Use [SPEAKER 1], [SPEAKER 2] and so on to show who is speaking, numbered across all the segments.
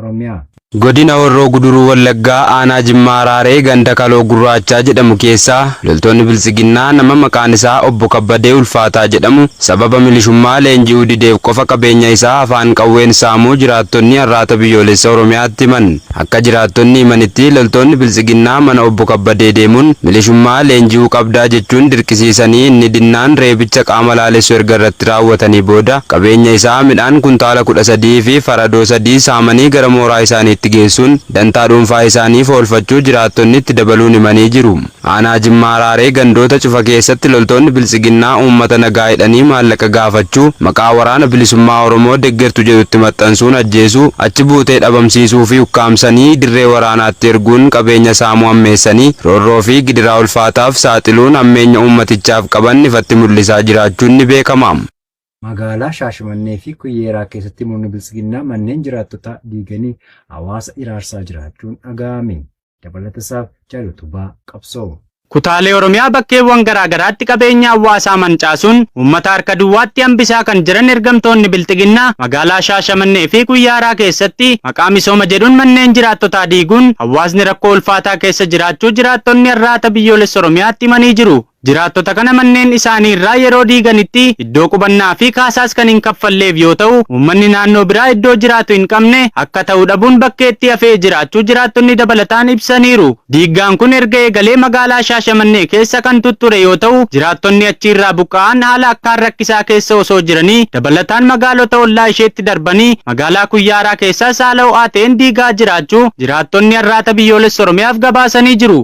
[SPEAKER 1] Oromiyaa. Godina
[SPEAKER 2] Horroo Guduruu Wallaggaa aanaa Jimmaa Araaree ganda Kaloo Gurraachaa jedhamu keessaa loltoonni Biltsiginnaa nama maqaan isaa Obbo Kabbadee Ulfaataa jedhamu sababa milishummaa leenji'uu dideef qofa qabeenya isaa afaan qawween saamuu jiraattonni Arraata Biyyoolessa Oromiyaatti himan. Akka jiraattonni himanitti loltoonni Biltsiginnaa mana Obbo Kabbadee deemuun milishummaa leenji'uu qabdaa jechuun dirqisiisanii inni dinnaan reebicha qaama laalessu erga irratti raawwatanii booda qabeenya isaa midhaan kuntaala 13 fi Aradoo sadii saamanii gara mooraa isaaniitti geessuun dantaa dhuunfaa isaaniif oolfachuu jiraattonni itti dabaluun himanii jiru. Aanaa Jimmaa Raaree gandoota cufa keessatti loltoonni Biltsiginnaa uummata nagaa hidhanii maallaqa gaafachuu maqaa Waraana Bilisummaa Oromoo deggertu jedhutti maxxansuun ajjeesuu, achi buutee dhabamsiisuu fi ukkaamsanii dirree waraanaatti erguun qabeenya saamuu hammeessanii roorroo fi gidiraa ulfaataaf saaxiluun hammeenya uummatichaaf qaban ifatti mul'isaa jiraachuun ni beekama. Magaalaa
[SPEAKER 1] Shaashimannee fi Kuyyeeraa keessatti murni Biltsiginnaa manneen jiraattotaa diiganii hawaasa hiraarsaa jiraachuun dhaga'ame. Dabalatasaaf Jaal Utubaa Qabsoo. Kutaalee Oromiyaa
[SPEAKER 3] bakkeewwan garaa garaatti qabeenya hawaasaa mancaasuun uummata harka duwwaatti hambisaa kan jiran ergamtoonni Bilxiginnaa magaalaa Shaashamannee fi Kuyyaaraa keessatti maqaa misooma jedhuun manneen jiraattotaa diiguun hawaasni rakkoo ulfaataa keessa jiraachuu jiraattonni Arraata Biyyoolessa Oromiyaatti himanii jiru. Jiraattota kana manneen isaanii irraa yeroo diiganitti iddoo qubannaa fi kaasaas kan hin kaffalleef yoo ta'u, uummanni naannoo biraa iddoo jiraatu hin qabne akka ta'u dhabuun bakkeetti hafee jiraachuu jiraattonni dabalataan ibsaniiru. Diiggaan kun erga eegalee magaalaa Shaashamannee keessa kan tutture yoo ta'u, jiraattonni achi irraa buqqa'an haala akkaan rakkisaa keessa osoo jiranii dabalataan magaalota ollaa isheetti darbanii magaalaa Kuyyaaraa keessaas haala ho'aa ta'een diigaa jiraachuu jiraattonni Arraata Biyyoolessa Oromiyaaf gabaasanii jiru.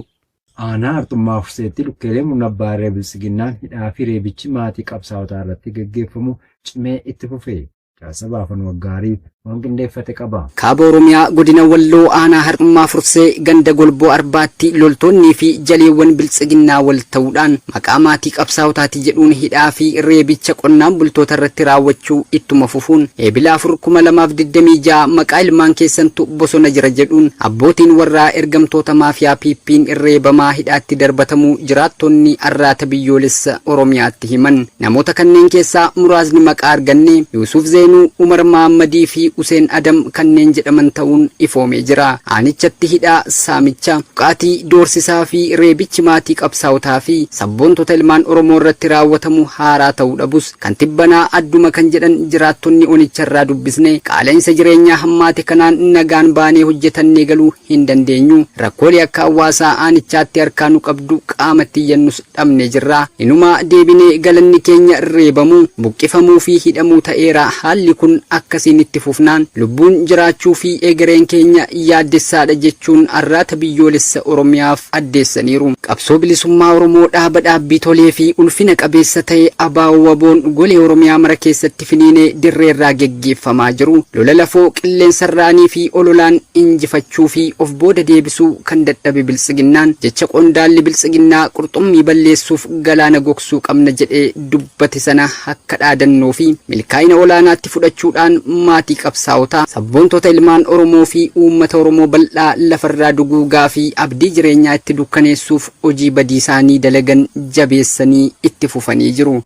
[SPEAKER 3] Aanaa Arxummaa
[SPEAKER 1] Furseetti lukkeelee murna abbaa irree Biltsiginnaan hidhaa fi reebichi maatii qabsaawotaa irratti gaggeeffamu cimee itti fufe. Jaarsa Baafan Waggaarii waan qindeeffate qaba. Kaaba Oromiyaa
[SPEAKER 4] Godina Walloo Aanaa Harxummaa Fursee ganda Golboo Arbaatti loltoonnii fi jaleewwan Biltsiginnaa wal ta'uudhaan Maqaa maatii qabsaa'otaatii jedhuun hidhaa fi reebicha qonnaan bultoota irratti raawwachuu ittuma fufuun Eebila 4,2026 maqaa ilmaan keessantu bosona jira jedhuun abbootiin warraa ergamtoota maafiyaa PP'n reebamaa hidhaatti darbatamuu jiraattonni Arraata Biyyoolessa Oromiyaatti himan. Namoota kanneen keessaa muraasni maqaa arganne Yuusuuf Zeenuu, Umar Mahammadii fi Useen Adam kanneen jedhaman ta'uun ifoomee jira. Aanichatti hidhaa, saamicha, Buqqaati, doorsisaa fi reebichi maatii qabsaa'otaa fi sabboontota ilmaan Oromoo irratti raawwatamu haaraa ta'uu dhabus, kan tibbanaa adduma kan jedhan jiraattonni onicharraa dubbisne, qaala'insa jireenyaa hammaate kanaan nagaan baanee hojjetannee galuu hin dandeenyu, rakkoolee akka hawaasaa aanichaatti harkaa nu qabdu qaamatti iyyannus dhabne jirra. Inumaa deebinee galanni keenya reebamuu, buqqifamuu fi hidhamuu ta'eera. Haalli kun akkasiin itti fufnaan lubbuun jiraachuu fi egereen keenya yaaddessaadha jechuun Arraata Biyyoolessa Oromiyaaf addeessaniiru. Qabsoo Bilisummaa Oromoo dhaaba dhaabbii tolee fi ulfina qabeessa ta'e ABO-WBOn golee Oromiyaa mara keessatti. irratti finiinee dirreerraa geggeeffamaa jiru lola lafoo qilleensarraanii fi ololaan injifachuu fi of booda deebisuu kan dadhabe Biltsiginnaan jecha qondaalli Biltsiginnaa qurxummii balleessuuf galaana gogsuu qabna jedhee dubbate sana akka dhaadannoo fi milkaa'ina olaanaatti fudhachuudhaan maatii qabsaa'otaa, sabboontota ilmaan Oromoo fi uummata Oromoo bal'aa lafarraa duguugaa fi abdii jireenyaa itti dukkaneessuuf hojii badiisaanii dalagan jabeessanii itti fufanii jiru.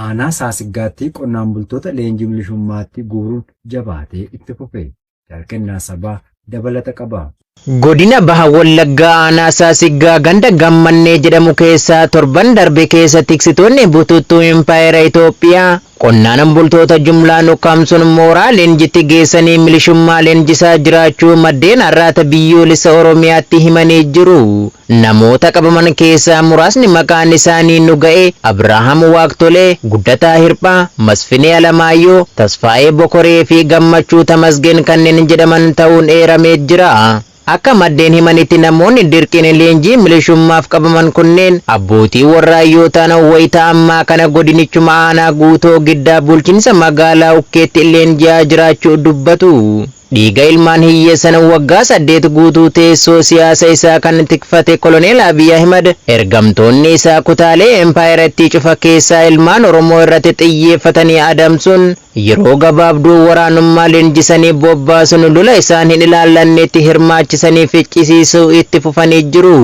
[SPEAKER 4] Aanaa
[SPEAKER 1] Saasiggaatti qonnaan bultoota leenjii milishummaatti guuruun jabaatee itti fufe. Jaal Kennaa Sabaa dabalata qaba. Godina Baha
[SPEAKER 5] Wallaggaa Aanaa Saasiggaa ganda Gammannee jedhamu keessaa torban darbe keessa tiksitoonni bututtuu Impaayera Itoophiyaa qonnaan bultoota jumlaan ukkaamsuun mooraa leenjitti geessanii milishummaa leenjisaa jiraachuu maddeen Arraata Biyyoolessa Oromiyaatti himanii jiru. Namoota qabaman keessaa muraasni maqaan isaanii nu ga'e, Abrahaam Waaqtolee, Guddataa Hirphaa, Masfinee Alamaayyoo, Tasfaayee Bokoree fi Gammachuu Tamasgeen kanneen jedhaman ta'uun eeramee jira. Akka maddeen himanitti namoonni dirqiin leenjii milishummaaf qabaman kunneen abbootii warraa yoo ta'an wayita ammaa kana godinichuma aanaa Guutoo Giddaa bulchiinsa magaalaa Ukkeetti leenji'aa jiraachuu dubbatu. Dhiiga ilmaan hiyyeessan waggaa saddeet guutuu teessoo siyaasa isaa kan tikfate Koloneel Abiy Ahimad ergamtoonni isaa kutaalee empaayerattii cufa keessaa ilmaan Oromoo irratti xiyyeeffatanii adamsuun yeroo gabaabduu waraanummaa leenjisanii bobbaasuun lola isaan hin ilaallanneetti hirmaachisanii ficcisiisuu itti fufanii jiru.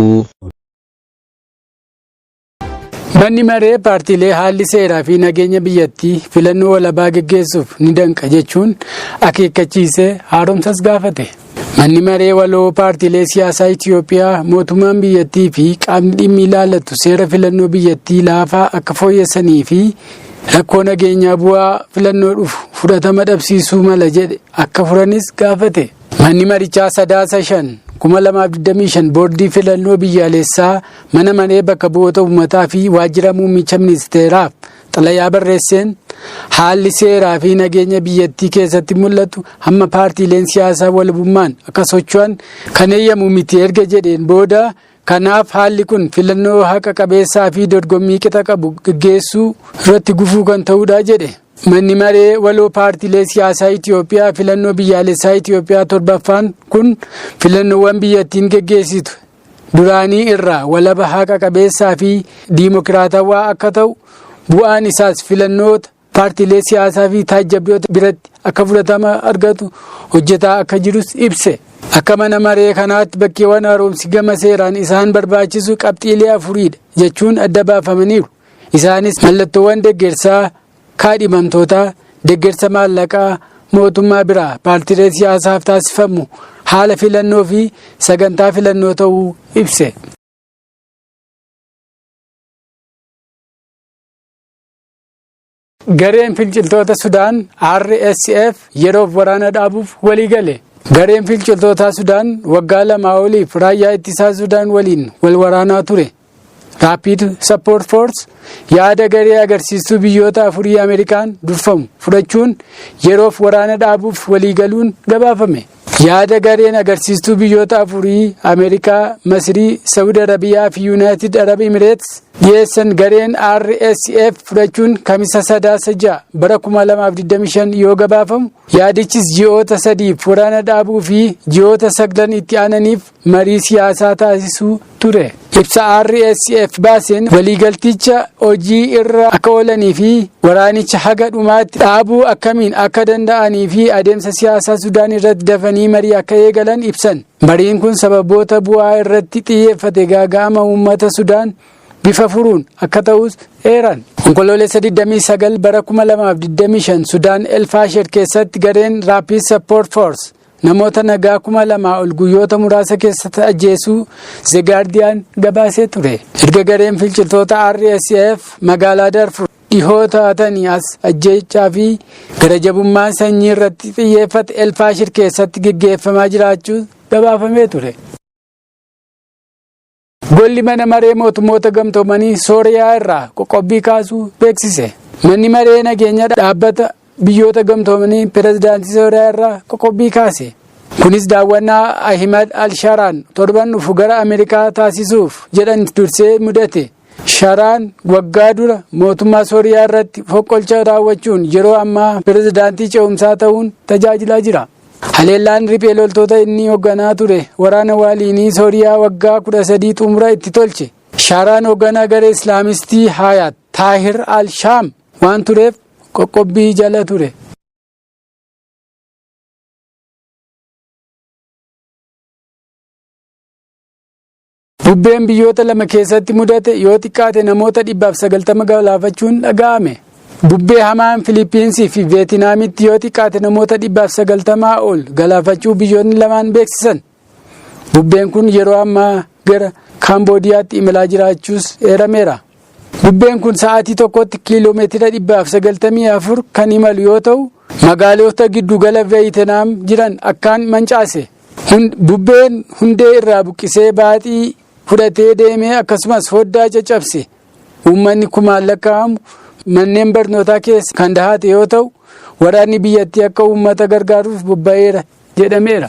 [SPEAKER 6] Manni maree paartiilee haalli seeraa fi nageenya biyyattii filannoo walabaa geggeessuuf ni danqa jechuun akeekkachiisee haaromsas gaafate. Manni maree waloo paartiilee siyaasaa Itiyoophiyaa mootummaan biyyattii fi qaamni dhimmi ilaallatu seera filannoo biyyattii laafaa akka fooyyessanii fi rakkoo nageenyaa bu'aa filannoo dhufu fudhatama dhabsiisuu mala jedhe akka furanis gaafate. Manni marichaa sadaasa shan 2025 boordii filannoo biyyaalessaa Mana Maree Bakka Bu'oota Uummataa fi Waajjira Muummicha Ministeeraaf xalayaa barreesseen, haalli seeraa fi nageenya biyyattii keessatti mul'atu hamma paartiileen siyaasaa walabummaan akka socho'an kan eeyyamu miti erga jedheen booda, kanaaf haalli kun filannoo haqa qabeessaa fi dorgommii qixa qabu gaggeessuu irratti gufuu kan ta'udha jedhe. Manni Maree Waloo Paartiilee Siyaasaa Itiyoophiyaa filannoo biyyaalessaa Itiyoophiyaa 7ffaan kun filannoowwan biyyattiin gaggeessitu duraanii irraa walaba haqa qabeessaa fi diimokiraatawaa akka ta'u bu'aan isaas filannoota paartiilee siyaasaa fi taajjabdoota biratti akka fudhatama argatu hojjetaa akka jirus ibse. Akka mana maree kanaatti bakkeewwan haaromsi gama seeraan isaan barbaachisu qabxiilee afuriidha jechuun adda baafamaniiru. Isaanis mallattoowwan deggersaa Kaadhimamtootaa deggersa maallaqaa mootummaa biraa paartiilee siyaasaaf taasifamu haala filannoo fi sagantaa filannoo ta'uu ibse. Gareen finciltoota Sudaan RSF yeroof waraana dhaabuuf walii gale. Gareen finciltootaa Sudaan waggaa lamaa oliif raayyaa ittisaa Sudaan waliin wal waraanaa ture. Rapid Support Force yaada garee agarsiistuu biyyoota afurii Ameerikaan durfamu fudhachuun yeroof waraana dhaabuuf waliigaluun gabaafame. Yaada gareen agarsiistuu biyyoota afurii Ameerikaa, Masirii, Sawud Arabiyaa fi Yuunaayitid Arab Imireets dhiyeessan gareen RSF fudhachuun kamisa sadaasa 6 bara 2025 yoo gabaafamu yaadichis ji'oota sadiif waraana dhaabuu fi ji'oota saglan itti aananiif marii siyaasaa taasisuu ture. Ibsa RSF baaseen waliigalticha hojii irra akka oolanii fi waraanicha haga dhumaatti dhaabuu akkamiin akka danda'anii fi adeemsa siyaasaa Sudaan irratti dafanii marii akka eegalan ibsan. Mariin kun sababoota bu'aa irratti xiyyeeffate gaaga'ama uummata Sudaan bifa furuun akka ta'us eeran. Onkoloolessa 29 bara 2025 Sudaan Elfaasher keessatti gareen Rapid Support Force namoota nagaa kuma lamaa ol guyyoota muraasa keessatti ajjeesuu The Guardian gabaasee ture. Erga gareen finciltoota RSF magaalaa Darfur dhihoo taatanii as ajjeechaa fi garajabummaan sanyii irratti xiyyeeffate Elfaashir keessatti geggeeffamaa jiraachuu gabaafamee ture. Golli mana maree mootummoota gamtoomanii Sooriyaa irraa qoqqobbii kaasuu beeksise. Manni maree nageenya dhaabbata biyyoota gamtoomanii pirezidaantii Sooriyaa irraa qoqqobbii kaase. Kunis daawwannaa Ahimad al-Sharaan torban dhufu gara Ameerikaa taasisuuf jedhan dursee mudate. Sharaan waggaa dura mootummaa Sooriyaa irratti foqqolcha raawwachuun yeroo ammaa pirezidaantii ce'umsaa ta'uun tajaajilaa jira. Haleellaan riphee loltoota inni hogganaa ture waraana waaliinii Sooriyaa waggaa 13 xumura itti tolche. Shaaraan hogganaa garee Islaamistii Haayaat Taahir al-Shaam waan tureef qoqqobbii jala ture. Bubbeen biyyoota lama keessatti mudate yoo xiqqaate namoota 190 galaafachuun dhaga'ame. Bubbee hamaan Filiippiinsii fi Veetinaamitti yoo xiqqaate namoota 190 ol galaafachuu biyyoonni lamaan beeksisan. Bubbeen kun yeroo ammaa gara Kaamboodiyaatti imalaa jiraachuus eerameera. Bubbeen kun sa'aatii tokkotti kiiloo meetira 194 kan imalu yoo ta'u, magaalota giddugala Veeyitinaam jiran akkaan mancaase. Bubbeen hundee irraa buqqisee baaxii fudhatee deemee akkasumas foddaa caccabse. Uummanni kumaan lakkaa'amu manneen barnootaa keessa kan dahate yoo ta'u, waraanni biyyattii akka uummata gargaaruuf bobba'eera jedhameera.